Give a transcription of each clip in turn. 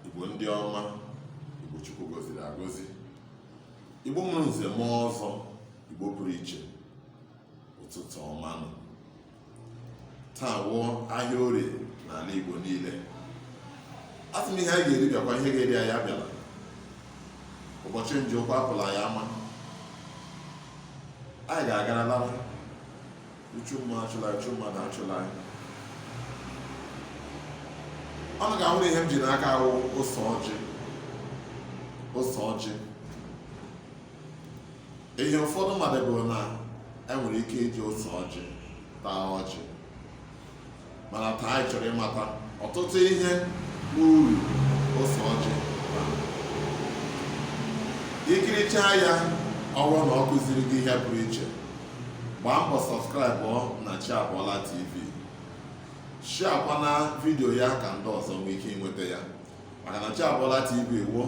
Igbo ndị ọma Igbo Chukwu gọziri agọzi Igbo mụrụ nze mụọ ọzọ Igbo pụrụ iche ụtụtụ ọma nụ taa wụ ahịa orie n'ala Igbo niile asị m ihe anyị ga-eri bịakwa ihe ga-eri anyị abịala ụbọchị nje ụkwụ apụla ya ama anyị ga-agara lawa Uchu mma achụla uchu mmadụ achụla anyị ụnụ ga-ahụrụ ihe m ji n'aka wụ ose ọjị ose ọjị ihe ụfọdụ mmadụ bụ na e nwere ike iji ose ọjị taa ọjị mana taa anyị chọrọ ịmata ọtụtụ ihe wụ uru ose ọjị i kirichaa ya ọ wụrụ na ọ kụziri gị ihe pụrụ iche gbaa mbọ subscribe na chi abọọla tv sharekwa na vidiyo ya ka ndị ọzọ nwee ike inweta ya maka na chi abọọla tv wụ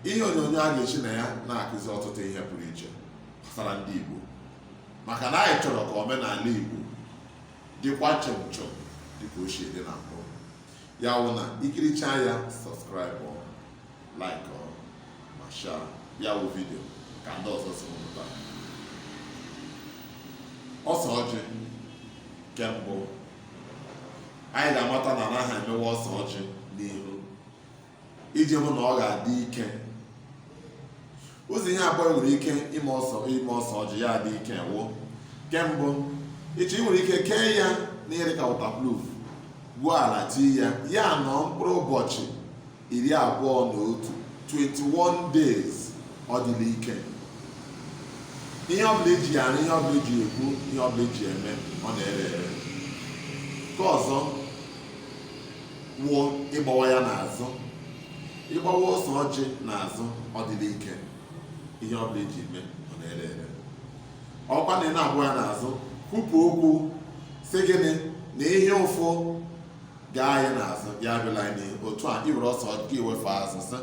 ihe onyonyo a ga-esi na ya na-akụzi ọtụtụ ihe pụrụ iche gbasara ndị igbo maka na anyị chọrọ ka omenala igbo dịkwa chọm chọm dịka o si dị na mbụ ya wụ na i kirichaa ya subscribe like ma share ya wụ vidio ka ndị ọzọ so mụta ose ọjị nke mbụ anyị ga-amata na a naghị emewa ose ọjị n'ihu iji hụ na ọ ga-adị ike ụzọ ihe abụọ ị nwere ike ime ose ọjị ya adị ike wụ nke mbụ ị chọọ ị nwere ike kee ya n'ihe dịka waterproof gwuo ala tii ya ya nọọ mkpụrụ ụbọchị iri abụọ na otu 21 days ọ dịla ike ihe ọbụla eji ya arụ ihe ọbụla eji ekwu ihe ọbụla eji eme ọ na-ere ere nke ọzọ wụ ịgbawa ya n'azụ ịgbawa ose ọjị n'azụ ọ dịla ike ihe ọ bụla i ji eme ọ na-ere ere ọkwa na ị na-agba ya n'azụ kwupụ okwu sị gịnị na ihe ụfụ gaa anyị n'azụ ya abịala anyị n'ihu otu a i were ose ọjị wefe azụ sị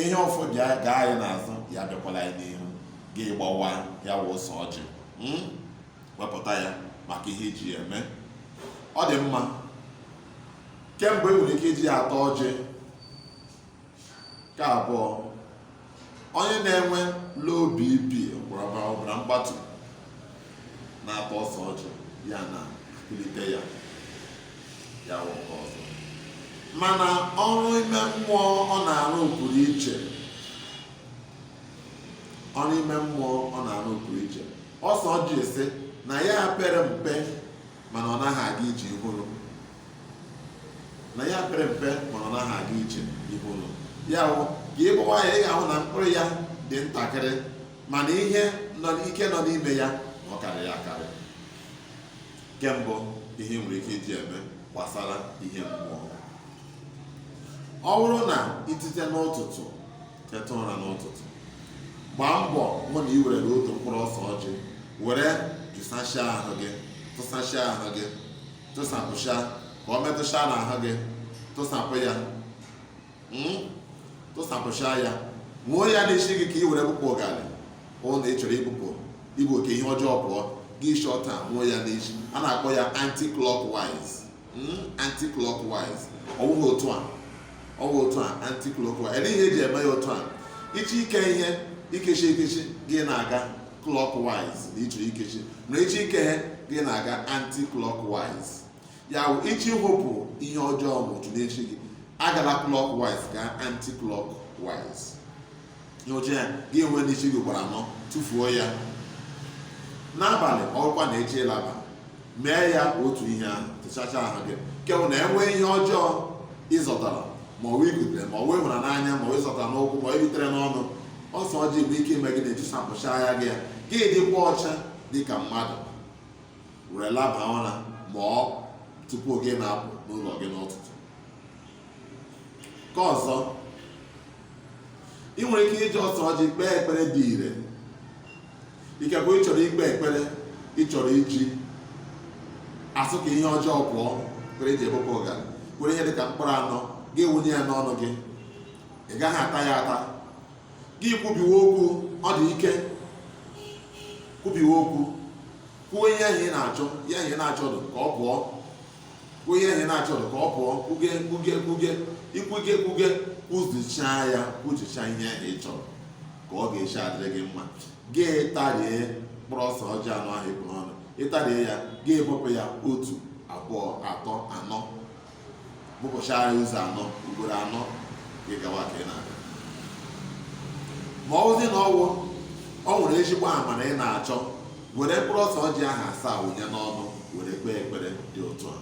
ihe ụfụ gaa anyị n'azụ ya abịakwala anyị n'ihu gị gbawa ya wụ ose ọjị hmm? wepụta ya maka ihe i ji ya eme ọ dị mma nke mbụ e nwere ike iji ya ata ọjị nke abụọ onye na-enwe low bp ọbara ọbara mgbatu na-ata ose ọjị ya na-akulite ya ya wụ nke ọzọ mana ọrụ ime mmụọ ọ na-arụ pụrụ iche ọrụ ime mmụọ ọ na-arụ pụrụ iche ose ọjị sị na ya pere mpe mana ọ naghị aga ije ihere na ya pere mpe mana ọ naghị aga ije ihere ya wụ ka ị gbawa ya ị ga-ahụ na mkpụrụ ya dị ntakịrị mana ihe nọ ike nọ n'ime ya ọ karịrị akarị nke mbụ ihe e nwere ike iji eme gbasara ihe mmụọ ọ bụrụ na itite n'ụtụtụ teta ụra n'ụtụtụ gbaa mbọ hụ na ị were otu mkpụrụ ose ọjị were jụsachia ahụ gị tụsachia ahụ gị tụsapụcha ka ọ metụcha n'ahụ gị tụsapụ ya hmm? tụsapụcha ya nwụọ ya n'isi gị ka ị were bụpụ ụga n'ihi na ị chọrọ ibupụ ibu ka ihe ọjọọ pụọ gị eshi otu a nwụọ ya n'isi a na-akpọ ya anti-clockwise hmm, anti clockwise ọ bụghị otu a ọ bụ otu a anti clockwise ele ihe eji eme ya otu a ị chọ ike ihe ikechi ikechi gị na-aga clockwise na ị chọrọ ikechi na ị chọ ike ihe gị na-aga anti clockwise ya bụ ị chọ iwepụ ihe ọjọọ mmadụ n'eshi gị agala clockwise gaa anti clockwise nwụcha ya gị enwe n'ishi gị gbara anọ tụfuo ya n'abalị ọ wụkwa na ị chọ ịlaba mee ya otu ihe ahụ tụchacha ahụ gị ka ọ wụ na e nwee ihe ọjọọ ịzọtara ma ọ wụ ikutere ma ọ wụ ịhụra n'anya ma ọ ịzọtara n'ụkwụ ma ọ iritere n'ọnụ ose ọjị nwere ike ime gịnị ejusapụcha ya gị ya gị dịkwa ọcha dị ka mmadụ were laba ụra ma ọ tupu gị na-apụ n'ụlọ gị n'ụtụtụ nke ọzọ ị nwere ike iji ose ọjị kpee ekpere dị ire ikekwe ị chọrọ ikpe ekpere ị chọrọ iji asị ka ihe ọjọọ pụọ kwere iji ebụpụ ụga were ihe dịka mkpụrụ anọ gị wụnye ya n'ọnụ gị ị gaghị ata ya ata gị kwubiwe okwu ọ dị ike kwubiwe okwu kwuo ihe ahụ ị na-achọ ihe ahụ ị na-achọ ka ọ pụọ kwuo ihe ahụ ị na-achọrọ ka ọ pụọ kwuge kwuge kwuge ikwuge kwuge kwuzichaa ya kwuchicha ihe ahụ ị chọrọ ka ọ ga-esi adịrị gị mma gị tarie mkpụrụ ose ọjị anọ ahụ ị kpụ n'ọnụ ịtarie ya gị bụpụ ya otu abụọ atọ anọ bụpụchara ya ụzọ anọ ugboro anọ gị gawa ka ị na-aga ma ọ bụzi na ọwụ ọ nwere ezigbo amara ị na-achọ were mkpụrụ ose ọjị ahụ asaa wụnye n'ọnụ were kpee ekpere dị otu a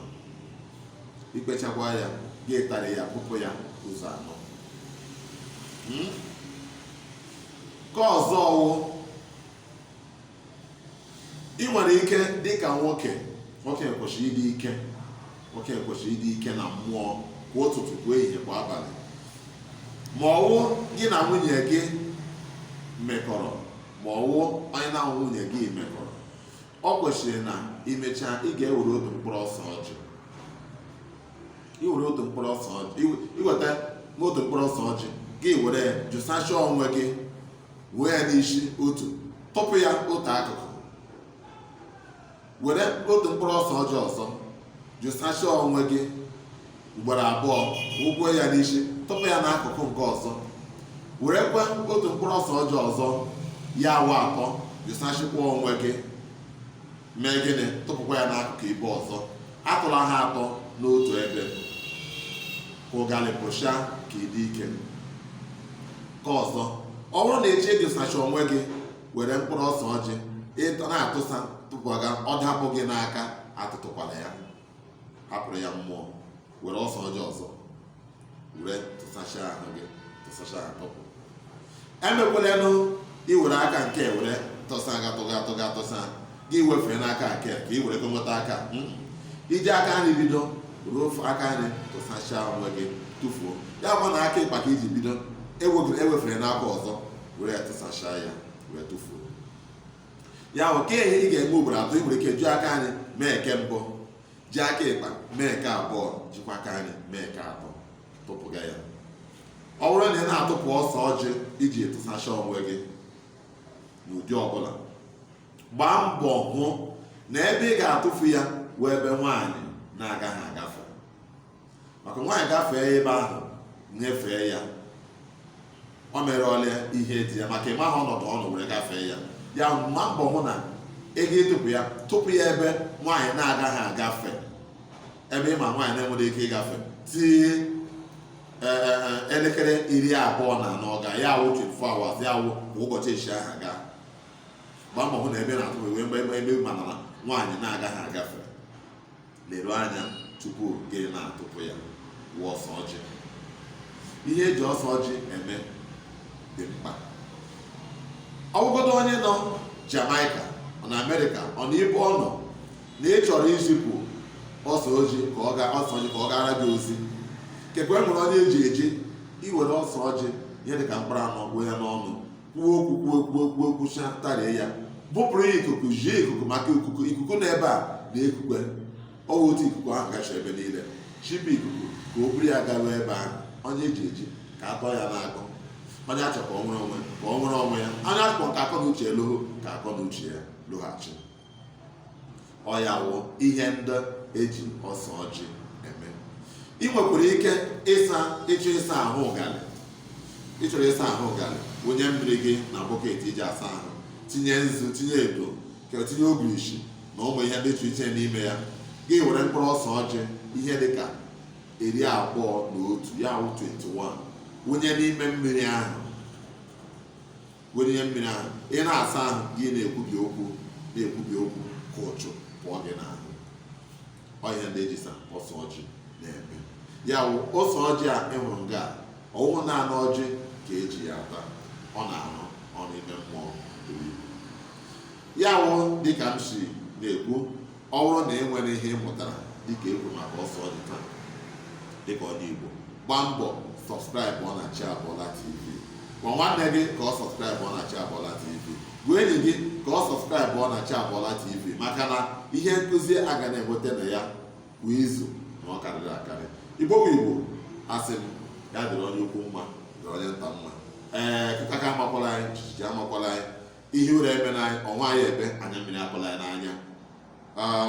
ikpechakwa ya gị atarie ya bụpụ ya ụzọ anọ hmm? nke ọzọ ọwụ ị nwere ike dịka nwoke nwoke kwesịrị ịdị ike nwoke kwesịrị ịdị ike na mmụọ kwa ụtụtụ kwa ehihie kwa abalị ma ọwụ gị na nwunye gị mekọrọ ma ọ wụ onye na nwunye gị mekọrọ ọ kwesịrị na imechaa ị ga-ewere otu mkpụrụ ọsọ ọjị iwere otu mkpụrụ ọsọ ọjị iwe- iweta n'otu mkpụrụ ọsọ ọjị gị were jụsachaa onwe gị wee ya n'isi otu tụpụ ya otu akụkụ were otu mkpụrụ ọsọ ọjị ọzọ jụsachie onwe gị ugboro abụọ wụkwuo ya n'isi tụpụ ya n'akụkụ nke ọzọ werekwa otu mkpụrụ ọsọ ọjị ọzọ ya awụ atọ jụsachikwa onwe gị mee gịnị tụpụkwa ya n'akụkụ ibe ọzọ atụla ha atọ n'otu ebe ụgalị pụcha ka ịdị ike nke ọzọ ọ bụrụ na eji jụsacha onwe gị were mkpụrụ ọsọ ọjị ịtọ na-atụsa tụpụga ọ dapụ gị n'aka atụtụkwala ya hapụrụ ya mmụọ were ọsọ ọjị ọzọ were tụsacha ahụ gị tụsacha tụpụ emekwalenụ iwere aka nke were tụsa aga tụga tụga tụsa gị wefee n'aka nke ka ị were nweta aka hmm? iji aka nri bido ruo aka nri tụsachaa onwe gị tụfuo ya bụ na aka ịkpa ka iji bido ewefere n'aka ọzọ were ya tụsachaa ya wee tụfuo ya okay ihe ị ga-eme ugboro atọ ị nwere ike ju aka nri mee nke mbụ ji aka ịkpa mee nke abụọ jikwa aka nri mee nke atọ tụpụga ya ọ bụrụ na ị na-atụpụ ọsọ ọjị iji tụsacha onwe gị n'ụdị ọbụla gbaa mbọ hụ na ebe ị ga-atụfu ya wụ ebe nwaanyị na-agaghị agafe maka nwaanyị gafee ebe ahụ nyefee ya o merụọla ihe dị ya maka ịmaghị ọnọdụ ọ nọ were gafee ya ya gbaa mbọ hụ na ị ga-atụpụ ya tụpụ ya ebe nwaanyị na-agaghị agafe ebe ịma nwaanyị na-enweghị ike ịgafe till e, e, e, elekere iri abụọ na anọ gaa ya awụ 24 hours ya awụ kwa ụbọchị echi ahụ gaa gbaa mbọ hụ na ebe ị na-atụpụ ebe ebe ị mara na nwaanyị na-agaghị agafe leru anya tupu gị na-atụpụ ya wụ ọsọ ọjị ihe eji ọsọ ọjị eme dị mkpa ọ wụgodo onye nọ Jamaica ọ nọ Amerịka ọ nọ ebe ọ nọ na ị chọrọ izipụ ọsọ ọjị ka ọ gaa ọsọ ọjị ka ọ gara gị ozi kekwe nwere onye eji eji iwere ọsọ ọjị ihe dị ka mkpụrụ anọ kpụ ya n'ọnụ kwuo okwu kwuo kwuo kwuo kwucha tarie ya bụpụrụ ya ikuku zie ikuku maka ikuku ikuku na ebe a na ekukwe ọ wụ otu ikuku ahụ gacha ebe niile zipụ ikuku ka o buru ya garuo ebe ahụ onye eji eji ka a tọọ ya n'agbụ onye achọ ka ọ nwere onwe ka ọ nwere onwe ya onye achọ ka akọ na uche lụhụ ka akọ na uche ya lọghachi ọ ya wụ ihe ndị eji ọsọ ọjị eme ị nwekwara ike ịsa ịchọ ịsa ahụ ụgalị ịchọrọ ịsa ahụ ụgalị wụnye mmiri gị na bọket iji asa ahụ tinye nzu tinye edo ka tinye ogirishi na ụmụ ihe dị iche iche n'ime ya gị were mkpụrụ ọsọ ọjị ihe dị ka iri abụọ na otu ya wụ 21 wụnye n'ime mmiri ahụ were ihe mmiri ahụ ị na-asa ahụ gị na-ekwubi okwu na-ekwubi okwu ka ụchụ pụọ gị n'ahụ ọ ihe ndị eji sa ọsọ ọjị na-eme ya wụ ọsọ ọjị a ị hụrụ nga ọ wụhụ naanị ọjị ka eji ya ata ọ na-arụ ọrụ ime mmụọ buru ibu ya wụ dịka m si na-ekwu Ọ bụrụ na e nwere ihe ị mụtara dịka e kwuru maka ọsọ ọjị taa dịka ọ dị Igbo gbaa mbọ sọbskraịbụọ na Chi Abọọla TV gwa nwanne gị ka ọ sọbskraịbụọ na Chi Abọọla TV gwa enyi gị ka ọ sọbskraịbụọ na Chi Abọọla TV maka na ihe nkụzi a ga na-enweta na ya kwa izu na ọ karịrị akarị Igbo bụ Igbo asị m ya dịrị onye ukwu mma dịrị onye nta mma ee kịta ka amakwala anyị jijiji amakwala anyị ihe ụra emena anyị ọnwa anyị ebe anya mmiri akọla ya n'anya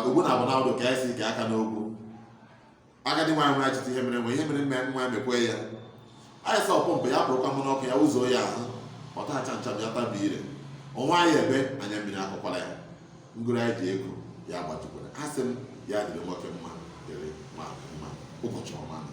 ugbu na abụ na ka anyị si ike aka n'okwu agadi nwaanyị nwere achịta ihe mere nwe ihe mere mme nwa mekwe ya anyị sọ pọmpụ ya pụrụkwa mụ n'ọkụ ya ụzọ ya ahụ ọta acha ncha ya tabi ire ọnwa anyị ebe anya mmiri akọkwala ya ngụrụ anyị ji ego ya gbatukwara a sị m ya dịrị nwoke mma dịrị nwaanyị mma ụbọchị ọma na